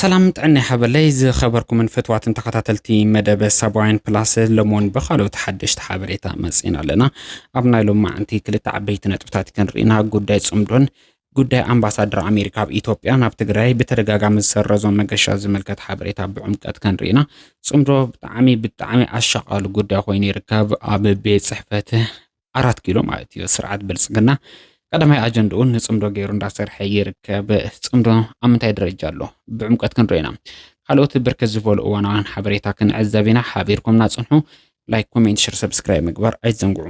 ሰላም ጥዕና ይሃበለይ ዝኸበርኩምን ፍትዋትን ተኸታተልቲ መደበ ሳባውያን ፕላስ ሎሞን ብካልኦት ሓደሽቲ ሓበሬታ መፂና ኣለና ኣብ ናይ ሎም መዓንቲ ክልተ ዓበይቲ ነጥብታት ክንርኢና ጉዳይ ፅምዶን ጉዳይ ኣምባሳደር ኣሜሪካ ኣብ ኢትዮጵያ ናብ ትግራይ ብተደጋጋሚ ዝሰረዞ መገሻ ዝምልከት ሓበሬታ ብዕምቀት ከንርኢና ፅምዶ ብጣዕሚ ብጣዕሚ ኣሻቃሉ ጉዳይ ኮይኑ ይርከብ ኣብ ቤት ፅሕፈት ኣራት ኪሎ ማለት እዩ ስርዓት ብልፅግና ቀዳማይ ኣጀንድኡ ንፅምዶ ገይሩ እንዳሰርሐ ይርከብ። ፅምዶ ኣብ ምንታይ ደረጃ ኣሎ ብዕምቀት ክንሪኦ ኢና። ካልኦት ብርክት ዝበሉ እዋናውያን ሓበሬታ ክንዕዘብ ኢና። ሓቢርኩምና ፅንሑ። ላይክ፣ ኮሜንት፣ ሸር፣ ሰብስክራይብ ምግባር ኣይትዘንግዑ።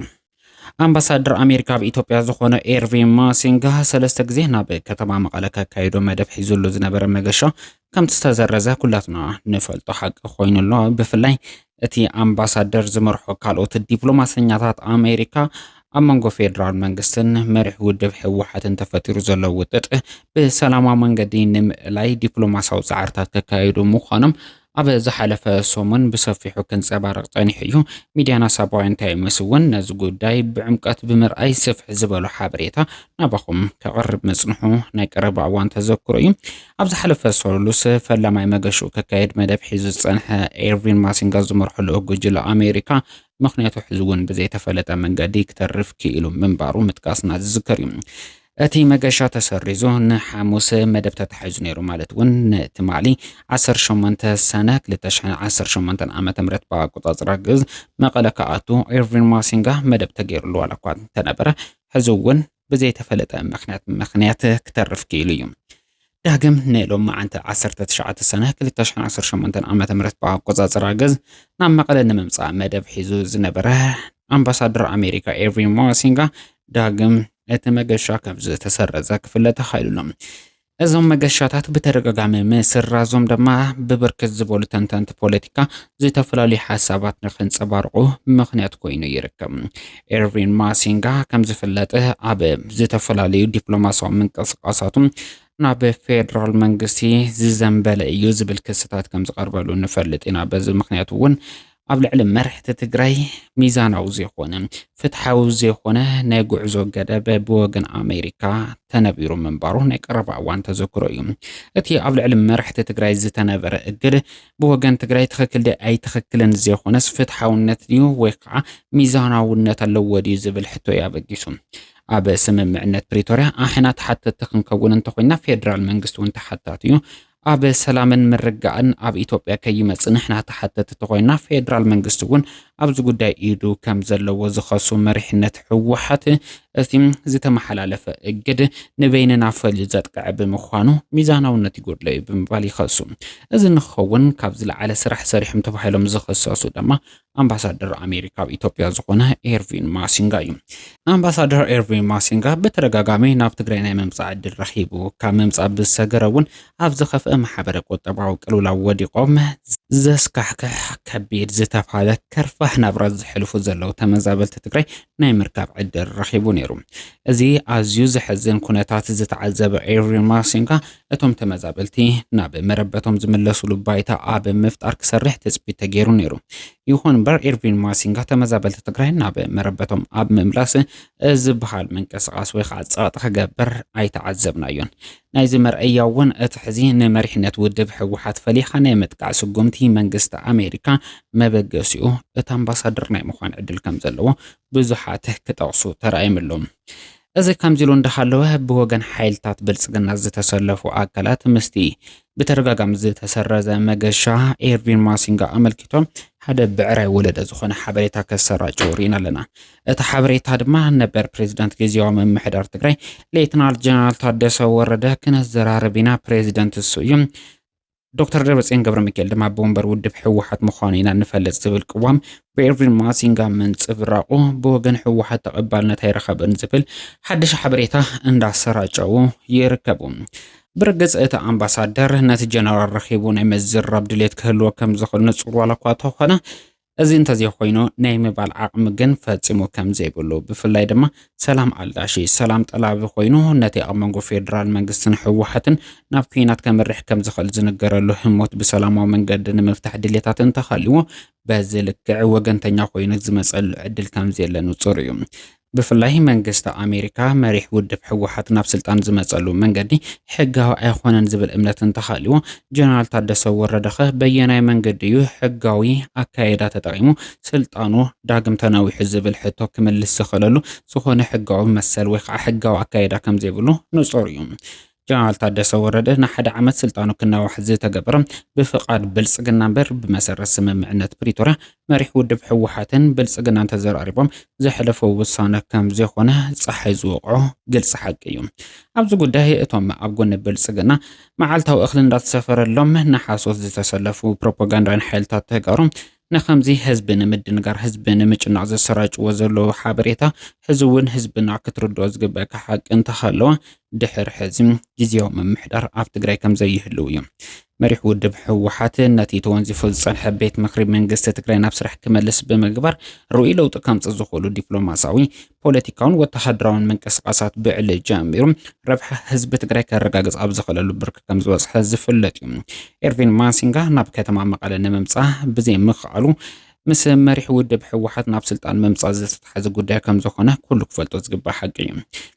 ኣምባሳደር ኣሜሪካ ኣብ ኢትዮጵያ ዝኾነ ኤርቪን ማሲንጋ ሰለስተ ግዜ ናብ ከተማ መቐለ ከካይዶ መደብ ሒዙሉ ዝነበረ መገሻ ከምቲ ዝተዘረዘ ኩላትና ንፈልጦ ሓቂ ኮይኑ ኣሎ። ብፍላይ እቲ ኣምባሳደር ዝመርሖ ካልኦት ዲፕሎማሰኛታት ኣሜሪካ ኣብ መንጎ ፌዴራል መንግስትን መሪሕ ውድብ ህወሓትን ተፈጢሩ ዘሎ ውጥጥ ብሰላማዊ መንገዲ ንምእላይ ዲፕሎማሲያዊ ፃዕርታት ከካየዱ ምዃኖም ኣብ ዝሓለፈ ሰሙን ብሰፊሑ ክንጸባረቕ ጸኒሑ እዩ። ሚድያና ሳባውያን ታይምስ እውን ነዚ ጉዳይ ብዕምቀት ብምርኣይ ስፍሕ ዝበሉ ሓበሬታ ናባኹም ከቕርብ ምጽንሑ ናይ ቀረባ እዋን ተዘክሮ እዩ። ኣብ ዝሓለፈ ሰሉስ ፈላማይ መገሽኡ ከካየድ መደብ ሒዙ ዝጸንሐ ኤርቪን ማሲንጋ ዝመርሖ ልኡኽ ጉጅለ ኣሜሪካ ምኽንያቱ ሕዚ እውን ብዘይተፈለጠ መንገዲ ክተርፍ ክኢሉ ምንባሩ ምጥቃስና ዝዝከር እዩ። እቲ መገሻ ተሰሪዙ ንሓሙስ መደብ ተታሒዙ ነይሩ ማለት እውን ንትማሊ ዓሰርተ ሸሞንተ ሰነ ክልተ ሽሕን ዓሰርተ ሸሞንተን ዓመተ ምህረት ብኣቆጻጽራ ግእዝ መቐለ ክኣቱ ኤርቪን ማሲንጋ መደብ ተገይሩሉ ዋላ እኳ እንተነበረ ሕዚ እውን ብዘይተፈለጠ ምክንያት ምክንያት ክተርፍ ክኢሉ እዩ። ዳግም ንሎም መዓንቲ ዓሰርተ ትሽዓተ ሰነ ክልተ ሽሕን ዓሰርተ ሸሞንተን ዓመተ ምህረት ብኣቆጻጽራ ገዝ ናብ መቐለ ንምምጻእ መደብ ሒዙ ዝነበረ ኣምባሳደር ኣሜሪካ ኤርቪን ማሲንጋ ዳግም እቲ መገሻ ከም ዝተሰረዘ ክፍለጥ ተኻኢሉ ኣሎ። እዞም መገሻታት ብተደጋጋሚ ምስራዞም ድማ ብብርክት ዝበሉ ተንተንቲ ፖለቲካ ዝተፈላለዩ ሓሳባት ንክንፀባርቑ ምኽንያት ኮይኑ ይርከብ። ኤርቪን ማሲንጋ ከምዝፍለጥ ኣብ ዝተፈላለዩ ዲፕሎማሲያዊ ምንቅስቃሳቱ ናብ ፌዴራል መንግስቲ ዝዘንበለ እዩ ዝብል ክስታት ከም ዝቐርበሉ ንፈልጥ ኢና። በዚ ምክንያት እውን ኣብ ልዕሊ መራሕቲ ትግራይ ሚዛናዊ ዘይኮነ ፍትሓዊ ዘይኮነ ናይ ጉዕዞ ገደብ ብወገን ኣሜሪካ ተነቢሩ ምንባሩ ናይ ቀረባ እዋን ተዘክሮ እዩ። እቲ ኣብ ልዕሊ መራሕቲ ትግራይ ዝተነበረ እግድ ብወገን ትግራይ ትኽክል ደ ኣይትኽክልን ዘይኮነስ ፍትሓውነት ድዩ ወይ ከዓ ሚዛናውነት ኣለዎ ድዩ ዝብል ሕቶ እዩ ኣበጊሱ። ኣብ ስምምዕነት ፕሪቶርያ ኣሕና ተሓተቲ ክንከውን እንተኮይና ፌዴራል መንግስቲ እውን ተሓታቲ እዩ። ኣብ ሰላምን ምርግጋእን ኣብ ኢትዮጵያ ከይመፅእ ንሕና ተሓተቲ ተኾይንና ፌዴራል መንግስቲ እውን ኣብዚ ጉዳይ ኢዱ ከም ዘለዎ ዝኸሱ መሪሕነት ህወሓት እቲ ዝተመሓላለፈ እግድ ንበይንና ፈልዩ ዘጥቅዐ ብምዃኑ ሚዛናውነት ይጎድሎ እዩ ብምባል ይኸሱ። እዚ ንክኸውን ካብ ዝለዓለ ስራሕ ሰሪሖም ተባሂሎም ዝኽሰሱ ድማ ኣምባሳደር ኣሜሪካ ኣብ ኢትዮጵያ ዝኾነ ኤርቪን ማሲንጋ እዩ። ኣምባሳደር ኤርቪን ማሲንጋ ብተደጋጋሚ ናብ ትግራይ ናይ ምምፃእ ዕድል ረኺቡ ካብ ምምፃእ ብዝሰገረ እውን ኣብ ዝኸፍአ ማሕበረ ቁጠባዊ ቅልውላው ወዲቖም ዘስካሕክሕ ከቢድ ዝተባሃለ ከርፋሕ ናብራ ዝሕልፉ ዘለዉ ተመዛበልቲ ትግራይ ናይ ምርካብ ዕድል ረኺቡ ነይሩ። እዚ ኣዝዩ ዘሕዝን ኩነታት ዝተዓዘበ ኤርቪን ማሲንጋ እቶም ተመዛበልቲ ናብ መረበቶም ዝምለሱሉ ባይታ ኣብ ምፍጣር ክሰርሕ ትፅቢት ተገይሩ ነይሩ። ይኹን እምበር ኤርቪን ማሲንጋ ተመዛበልቲ ትግራይ ናብ መረበቶም ኣብ ምምላስ ዝበሃል ምንቅስቓስ ወይ ከዓ ፀቕጢ ክገብር ኣይተዓዘብናዮን። ናይዚ መርኣያ እውን እቲ ሕዚ ንመሪሕነት ውድብ ህወሓት ፈሊኻ ናይ ምጥቃዕ ስጉምቲ መንግስቲ ኣሜሪካ መበገሲኡ እቲ ኣምባሳደር ናይ ምዃን ዕድል ከምዘለዎ ብዙሓት ክጠቕሱ ተራእዮም ኣለዉ። እዚ ከምዚሉ እንዳሃለወ ብወገን ሓይልታት ብልፅግና ዝተሰለፉ ኣካላት ምስቲ ብተደጋጋሚ ዝተሰረዘ መገሻ ኤርቪን ማሲንጋ ኣመልኪቶም ሓደ ብዕራይ ወለደ ዝኾነ ሓበሬታ ከሰራጭው ርኢና ኣለና። እቲ ሓበሬታ ድማ ነበር ፕሬዚዳንት ግዜያዊ ምምሕዳር ትግራይ ሌትናል ጀነራል ታደሰ ወረደ ክነዘራርብ ኢና ፕሬዚደንት እሱ እዩ ዶክተር ደብረፅዮን ገብረሚካኤል ድማ ብወንበር ውድብ ህወሓት ምዃኑ ኢና ንፈልጥ ዝብል ቅዋም ብኤርቪን ማሲንጋ ምንፅብራቑ ብወገን ህወሓት ተቐባልነት ኣይረኸበን ዝብል ሓድሽ ሓበሬታ እንዳሰራጨው ይርከቡ። ብርግጽ እቲ ኣምባሳደር ነቲ ጀነራል ረኺቡ ናይ ምዝራብ ድሌት ክህልዎ ከም ዝኽእል ንጹር ዋላ እኳ እንተኾነ እዚ እንተዘይኾይኑ ናይ ምባል ዓቕሚ ግን ፈጺሙ ከምዘይብሉ ብፍላይ ድማ ሰላም ኣልዳሺ ሰላም ጠላቢ ኮይኑ ነቲ ኣብ መንጎ ፌዴራል መንግስትን ህወሓትን ናብ ኩናት ከምርሕ ከምዝኽእል ዝንገረሉ ህሞት ብሰላማዊ መንገዲ ንምፍታሕ ድሌታት እንተሃልዎ በዚ ልክዕ ወገንተኛ ኮይኑ ዝመፀሉ ዕድል ከምዘየለ ንፁር እዩ። ብፍላይ መንግስቲ ኣሜሪካ መሪሕ ውድብ ህወሓት ናብ ስልጣን ዝመፀሉ መንገዲ ሕጋዊ ኣይኾነን ዝብል እምነት እንተሃልዩ ጀነራል ታደሰ ወረደኸ በየናይ መንገዲ እዩ ሕጋዊ ኣካየዳ ተጠቒሙ ስልጣኑ ዳግም ተናዊሑ ዝብል ሕቶ ክምልስ ዝኽእለሉ ዝኾነ ሕጋዊ መሰል ወይ ከዓ ሕጋዊ ኣካየዳ ከምዘይብሉ ንፁር እዩ። ጀነራል ታደሰ ወረደ ንሓደ ዓመት ስልጣኑ ክናዋሕ ዝተገበረ ብፍቓድ ብልፅግና እምበር ብመሰረት ስምምዕነት ፕሪቶርያ መሪሕ ውድብ ህወሓትን ብልፅግናን ተዘራሪቦም ዘሕለፈው ውሳነ ከም ዘይኾነ ፀሓይ ዝወቕዖ ግልፂ ሓቂ እዩ። ኣብዚ ጉዳይ እቶም ኣብ ጎኒ ብልጽግና መዓልታዊ እኽሊ እንዳተሰፈረሎም ንሓሶት ዝተሰለፉ ፕሮፓጋንዳውያን ሓይልታት ተጋሩ ንኸምዚ ህዝቢ ንምድንጋር ህዝቢ ንምጭናቕ ዘሰራጭዎ ዘለዉ ሓበሬታ ሕዚ እውን ህዝብና ክትርድኦ ዝግበእካ ሓቂ እንተሃለወ ድሕር ሕዚ ግዝያዊ ምምሕዳር ኣብ ትግራይ ከምዘይህልው እዩ። መሪሕ ውድብ ህወሓት ነቲ ተወንዚፉ ዝፀንሐ ቤት ምኽሪ መንግስቲ ትግራይ ናብ ስራሕ ክመልስ ብምግባር ርኡይ ለውጢ ከምፅእ ዝኽእሉ ዲፕሎማሳዊ ፖለቲካውን ወተሃደራውን ምንቅስቓሳት ብዕሊ ጀሚሩ ረብሓ ህዝቢ ትግራይ ከረጋግፅ ኣብ ዝኽእለሉ ብርኪ ከም ዝበፅሐ ዝፍለጥ እዩ። ኤርቪን ማሲንጋ ናብ ከተማ መቐለ ንምምፃእ ብዘይምኽኣሉ ምስ መሪሕ ውድብ ህወሓት ናብ ስልጣን ምምፃእ ዝተተሓዘ ጉዳይ ከም ዝኾነ ኩሉ ክፈልጦ ዝግባእ ሓቂ እዩ።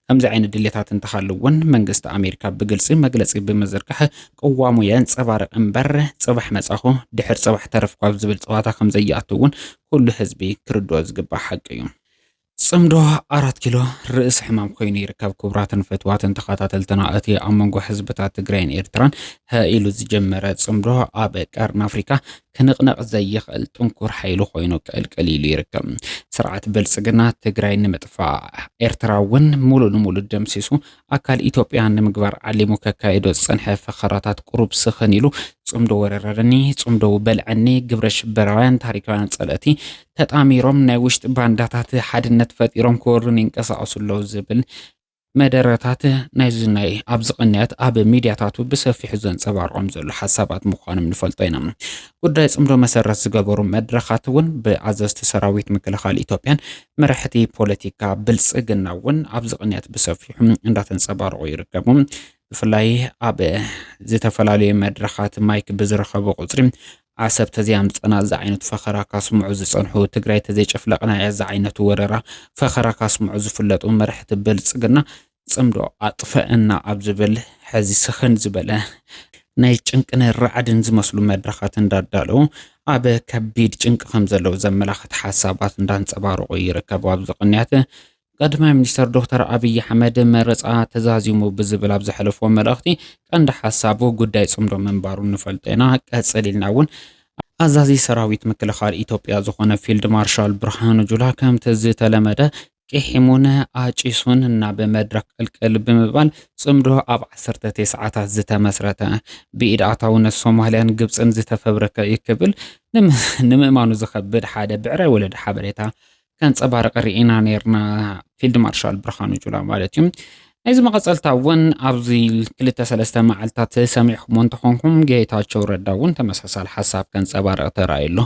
ከምዚ ዓይነት ድሌታት እንተሃለዎን መንግስቲ ኣሜሪካ ብግልፂ መግለፂ ብምዝርጋሕ ቅዋሙ የንፀባርቕ እምበር ፅባሕ መፃኹ ድሕር ፅባሕ ተረፍኩ ኣብ ዝብል ፀዋታ ከም ዘይኣቱ እውን ኩሉ ህዝቢ ክርድኦ ዝግባእ ሓቂ እዩ። ጽምዶ ኣራት ኪሎ ርእሲ ሕማም ኮይኑ ይርከብ። ክቡራትን ፈትዋትን ተኸታተልትና እቲ ኣብ መንጎ ህዝብታት ትግራይን ኤርትራን ኢሉ ዝጀመረ ጽምዶ ኣብ ቀርኒ ኣፍሪካ ክንቕነቕ ዘይኽእል ጥንኩር ሓይሊ ኮይኑ ቅልቅል ኢሉ ይርከብ። ስርዓት ብልጽግና ትግራይ ንምጥፋእ ኤርትራ እውን ሙሉ ንሙሉ ደምሲሱ ኣካል ኢትዮጵያ ንምግባር ዓሊሙ ከካይዶ ዝጸንሐ ፈኸራታት ቁሩብ ስኽን ኢሉ፣ ጽምዶ ወረረኒ፣ ጽምዶ በልዐኒ፣ ግብረ ሽበራውያን ታሪካውያን ጸለእቲ ተጣሚሮም ናይ ውሽጢ ባንዳታት ሓድነት ፈጢሮም ክወሩኒ ይንቀሳቐሱ ኣለዉ ዝብል መደረታት ናይዚ ናይ ኣብዚ ቅንያት ኣብ ሚድያታቱ ብሰፊሑ ዘንጸባርቖም ዘሎ ሓሳባት ምዃኖም ንፈልጦ ኢና። ጉዳይ ጽምዶ መሰረት ዝገበሩ መድረኻት እውን ብኣዘዝቲ ሰራዊት ምክልኻል ኢትዮጵያን መራሕቲ ፖለቲካ ብልፅግና እውን ኣብዚ ቅንያት ብሰፊሑ እንዳተንፀባረቑ ይርከቡ። ብፍላይ ኣብ ዝተፈላለዩ መድረኻት ማይክ ብዝረኸቡ ቁፅሪ ዓሰብ ተዘይኣምፀና እዚ ዓይነት ፈኸራ ካስምዑ ዝፀንሑ፣ ትግራይ ተዘይጨፍለቕና እያ ዝዓይነቱ ወረራ ፈኸራ ካስምዑ ዝፍለጡ መራሕቲ ብልፅግና ጽምዶ ኣጥፈኣና ኣብ ዝብል ሕዚ ስኽን ዝበለ ናይ ጭንቅን ራዕድን ዝመስሉ መድረኻት እንዳዳለው ኣብ ከቢድ ጭንቂ ከም ዘለው ዘመላኽት ሓሳባት እንዳንጸባረቑ ይርከቡ። ኣብዚ ቅንያት ቀዳማይ ሚኒስተር ዶክተር ኣብይ ኣሕመድ መረጻ ተዛዚሙ ብዝብል ኣብ ዘሕለፎ መልእኽቲ ቀንዲ ሓሳቡ ጉዳይ ጽምዶ ምንባሩ ንፈልጦ ኢና፣ ቀጽል ኢልና እውን ኣዛዚ ሰራዊት ምክልኻል ኢትዮጵያ ዝኾነ ፊልድ ማርሻል ብርሃኑ ጁላ ከምቲ ዝተለመደ ቂሒሙን ኣጪሱን ናብ መድረኽ ቅልቅል ብምባል ጽምዶ ኣብ ዓሰርተ ቴስዓታት ዝተመስረተ፣ ብኢድ ኣእታውነት ሶማልያን ግብጽን ዝተፈብረከ እዩ ክብል ንምእማኑ ዝኸብድ ሓደ ብዕራይ ወለደ ሓበሬታ ከንጸባርቕ ርኢና ኔርና፣ ፊልድ ማርሻል ብርሃኑ ጁላ ማለት እዩ። ናይዚ መቐጸልታ እውን ኣብዚ ክልተ ሰለስተ መዓልታት ሰሚዕኹሞ እንተኾንኩም ጌታቸው ረዳ እውን ተመሳሳሊ ሓሳብ ከንጸባርቕ ተራእዩ ኣሎ።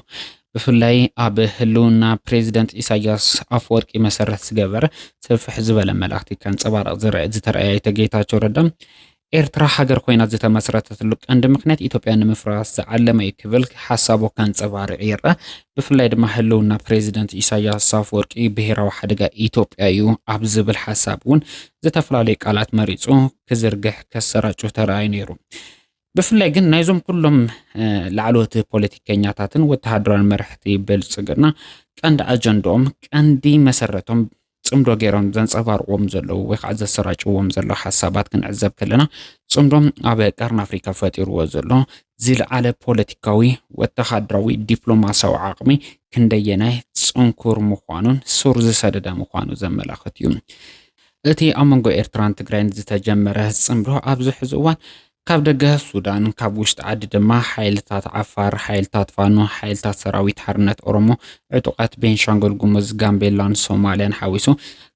ብፍላይ ኣብ ህልውና ፕሬዚደንት ኢሳያስ ኣፈወርቂ መሰረት ዝገበር ስፍሕ ዝበለ መልእኽቲ ከንፀባርቕ ዝረእ ዝተረኣየ ኣይተ ጌታቸው ረዳ ኤርትራ ሃገር ኮይና ዝተመስረተትሉ ቀንዲ ምክንያት ኢትዮጵያ ንምፍራስ ዝዓለመ እዩ ክብል ሓሳቡ ከንፀባርዕ ይርአ። ብፍላይ ድማ ህልውና ፕሬዚደንት ኢሳያስ ኣፈወርቂ ብሄራዊ ሓደጋ ኢትዮጵያ እዩ ኣብ ዝብል ሓሳብ እውን ዝተፈላለዩ ቃላት መሪፁ ክዝርግሕ ከሰራጩ ተረኣዩ ነይሩ። ብፍላይ ግን ናይዞም ኩሎም ላዕለዎት ፖለቲከኛታትን ወተሃደራዊ መራሕቲ ብልፅግና ቀንዲ ኣጀንድኦም ቀንዲ መሰረቶም ፅምዶ ገይሮም ዘንፀባርቕዎም ዘለዉ ወይ ከዓ ዘሰራጭዎም ዘሎ ሓሳባት ክንዕዘብ ከለና ፅምዶም ኣብ ቀርኒ ኣፍሪካ ፈጢርዎ ዘሎ ዝለዓለ ፖለቲካዊ ወተሃደራዊ ዲፕሎማሲያዊ ዓቕሚ ክንደየናይ ፅንኩር ምዃኑን ሱር ዝሰደደ ምዃኑ ዘመላኽት እዩ። እቲ ኣብ መንጎ ኤርትራን ትግራይን ዝተጀመረ ጽምዶ ኣብዚ ሕዚ እዋን ካብ ደገ ሱዳን ካብ ውሽጢ ዓዲ ድማ ሓይልታት ዓፋር፣ ሓይልታት ፋኖ፣ ሓይልታት ሰራዊት ሓርነት ኦሮሞ፣ ዕጡቓት ቤንሻንጉል ጉሙዝ፣ ጋምቤላን ሶማልያን ሓዊሱ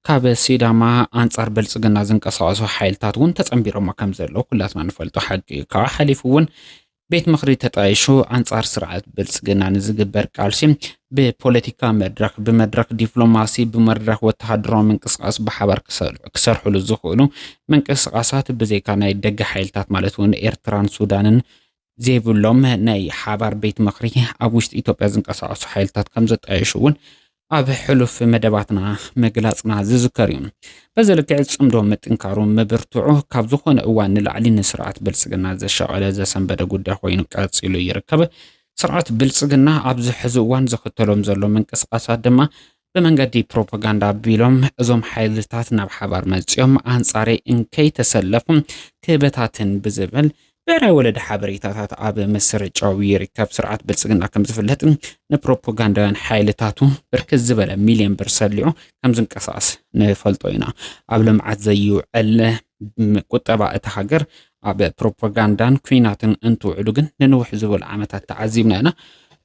ካብ ሲዳማ ኣንጻር ብልጽግና ዝንቀሳቐሱ ሓይልታት እውን ተጸንቢሮሞ ከም ዘለዉ ኩላትና ንፈልጦ ሓቂ እዩ። ካብኡ ሓሊፉ እውን ቤት ምኽሪ ተጣይሹ ኣንጻር ስርዓት ብልጽግና ንዝግበር ቃልሲ ብፖለቲካ መድረኽ ብመድረኽ ዲፕሎማሲ ብመድረኽ ወተሃደራዊ ምንቅስቓስ ብሓባር ክሰርሕሉ ዝኽእሉ ምንቅስቓሳት ብዘይካ ናይ ደገ ሓይልታት ማለት እውን ኤርትራን ሱዳንን ዘይብሎም ናይ ሓባር ቤት ምኽሪ ኣብ ውሽጢ ኢትዮጵያ ዝንቀሳቐሱ ሓይልታት ከም ዘጣየሹ እውን ኣብ ሕሉፍ መደባትና ምግላጽና ዝዝከር እዩ። በዚ ልክዕ ጽምዶ ምጥንካሩ ምብርትዑ ካብ ዝኾነ እዋን ንላዕሊ ንስርዓት ብልጽግና ዘሻቐለ ዘሰንበደ ጉዳይ ኮይኑ ቀጺሉ ይርከብ። ስርዓት ብልጽግና ኣብዚ ሕዚ እዋን ዝኽተሎም ዘሎ ምንቅስቓሳት ድማ ብመንገዲ ፕሮፓጋንዳ ኣቢሎም እዞም ሓይልታት ናብ ሓባር መጺኦም ኣንጻረይ እንከይተሰለፉ ክበታትን ብዝብል ብሄራዊ ወለዲ ሓበሬታታት ኣብ ምስርጫው ይርከብ። ስርዓት ብልፅግና ከም ዝፍለጥ ንፕሮፓጋንዳውያን ሓይልታቱ ብርክት ዝበለ ሚልዮን ብር ሰሊዑ ከም ዝንቀሳቐስ ንፈልጦ ኢና። ኣብ ልምዓት ዘይውዕል ቁጠባ እታ ሃገር ኣብ ፕሮፓጋንዳን ኩናትን እንትውዕሉ ግን ንንውሕ ዝበሉ ዓመታት ተዓዚብና ኢና።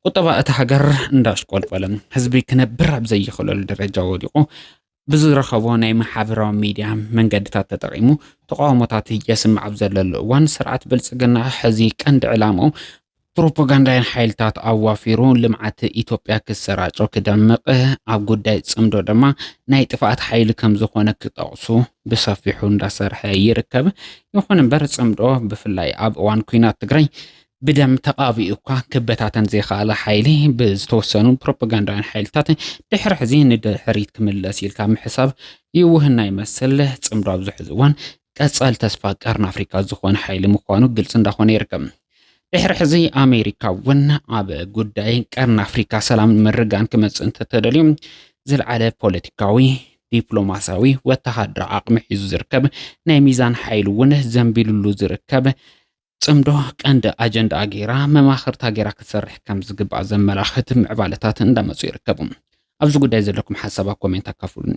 ቁጠባ እታ ሃገር እንዳሽቆልቆለ ህዝቢ ክነብር ኣብ ዘይኽእለሉ ደረጃ ወዲቑ ብዝረኸቦ ናይ ማሕበራዊ ሚድያ መንገድታት ተጠቒሙ ተቓውሞታት የስምዕ ኣብ ዘለሉ እዋን ስርዓት ብልፅግና ሕዚ ቀንዲ ዕላምኡ ፕሮፓጋንዳን ሓይልታት ኣዋፊሩ ልምዓት ኢትዮጵያ ክሰራጮ ክደምቕ ኣብ ጉዳይ ጽምዶ ድማ ናይ ጥፍኣት ሓይሊ ከም ዝኾነ ክጠቕሱ ብሰፊሑ እንዳሰርሐ ይርከብ። ይኹን እምበር ጽምዶ ብፍላይ ኣብ እዋን ኩናት ትግራይ ብደም ተቓቢኡ እኳ ክበታተን ዘይኸኣለ ሓይሊ ብዝተወሰኑ ፕሮፓጋንዳውያን ሓይልታት ድሕሪ ሕዚ ንድሕሪት ክምለስ ኢልካ ምሕሳብ ይውህና ይመስል ፅምዶ ኣብዚ ሕዚ እዋን ቀፃሊ ተስፋ ቀርኒ ኣፍሪካ ዝኾነ ሓይሊ ምዃኑ ግልፂ እንዳኾነ ይርከብ። ድሕሪ ሕዚ ኣሜሪካ እውን ኣብ ጉዳይ ቀርኒ ኣፍሪካ ሰላምን ምርጋን ክመፅእ እንተተደልዩ ዝለዓለ ፖለቲካዊ ዲፕሎማሲያዊ ወተሃደራዊ ዓቕሚ ሒዙ ዝርከብ ናይ ሚዛን ሓይሊ እውን ዘንቢሉሉ ዝርከብ ፅምዶ ቀንዲ ኣጀንድኣ ገይራ መማኽርታ ገይራ ክትሰርሕ ከምዝግባእ ዘመላኽት ምዕባለታት እንዳመፁ ይርከቡ። ኣብዚ ጉዳይ ዘለኩም ሓሳብ ኣብ ኮሜንት ኣካፍሉኒ።